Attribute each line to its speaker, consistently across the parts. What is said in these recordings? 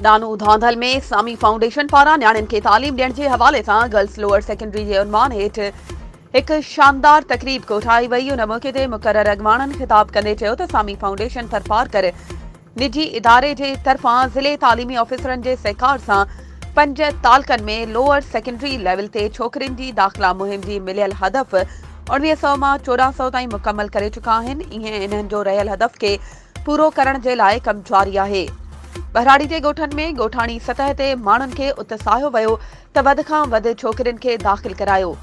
Speaker 1: ڏانو Dhandhal ۾ Sami foundation پاران نياڻين کي تعليم ڏيڻ جي حوالي سان گرلس لوئر سيڪنڊري جي عنوان هيٺ هڪ شاندار تقريب ڪوٺائي وئي ان موقعي تي مقرر اڳواڻن خطاب ڪندي چيو ته سامي فائونڊيشن ٿرپارڪر نجي اداري جي طرفان ضلعي تعليمي آفيسرن جي سهڪار سان پنج تعلقن ۾ لوئر سيڪنڊري ليول تي ڇوڪرين جي داخلا مهم جي مليل هدف اوڻويهه سؤ مان چوڏهن سؤ تائين مڪمل ڪري چڪا آهن ايئن انهن جو رهيل هدف کي پورو ڪرڻ جي لاء ڪم جاري آهي ٻهراڙي جي ڳوٺن ۾ ڳوٺاڻي سطح تي ماڻهن کي اتساهيو ويو ته وڌ کان وڌ ڇوڪرين کي داخل ڪرايو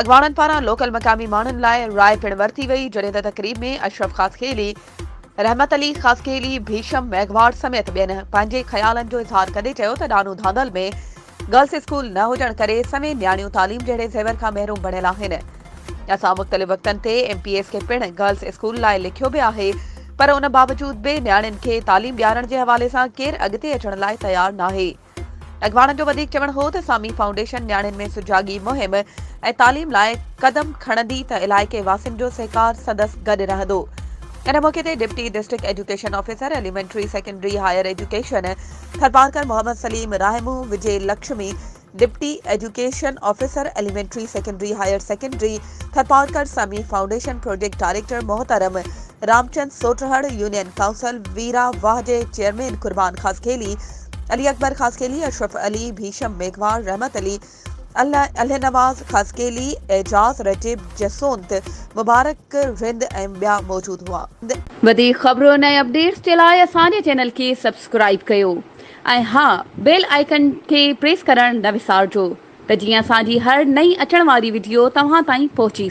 Speaker 1: اڳواڻن پاران لوڪل مقامي ماڻهن لاء راء پڻ ورتي وئي جڏهن ته تقريب ۾ اشرف خاصخيلي رحمت علي خاصخيلي، ڀيشم ميگهواڙ سميت ٻين پنهنجي خيالن جو اظهار ڪندي چيو ته ڏانو ڌانڌل ۾ گرلس اسڪول نه هجڻ ڪري سوين نياڻيون تعليم جهڙي زيور کان محروم بڻيل آهن. اسان مختلف وقتن تي ايم پي ايس کي پڻ گرلس اسڪول لاء لکيو به آهي پر ان باوجود به نياڻين کي تعليم ڏيارڻ جي حوالي سان ڪير اڳتي اچڻ لاء تيار ناهي. اڳواڻن جو وڌيڪ چوڻ هو ته سامي فائونڊيشن نياڻين ۾ سجاڳي مهم ۽ تعليم لاء قدم کڻندي ته علائقي واسين جو سهڪار سندس گڏ رهندو. ان موقعي تي deputy district education officer elementary secondary higher education Tharparkar Muhammad Saleem Rahmoo, Vijay Lakshmi, deputy education officer elementary secondary higher secondary Tharparkar, Sami foundation project director محترم رامچند سوٽرهڙ، يونين ڪائونسل ويرا واهه جي چيئرمين قربان خاصخيلي، علي اڪبر خاصخيلي، اشرف علي، ڀيشم ميگهواڙ، رحمت علي، الهه نواز خاصخيلي، اعجاز رجيب جسونت، مبارڪ رند ۽ ٻيا موجود هئا. وڌيڪ خبرون
Speaker 2: ۽ اپڊيٽس جي لاء اسان جي چينل کي سبسڪرائيب ڪيو ۽ ها بيل آئيڪن کي پريس ڪرڻ نه وسارجو ته جيئن اسان جي هر نئين اچڻ واري وڊيو توهان تائين پهچي سگهي.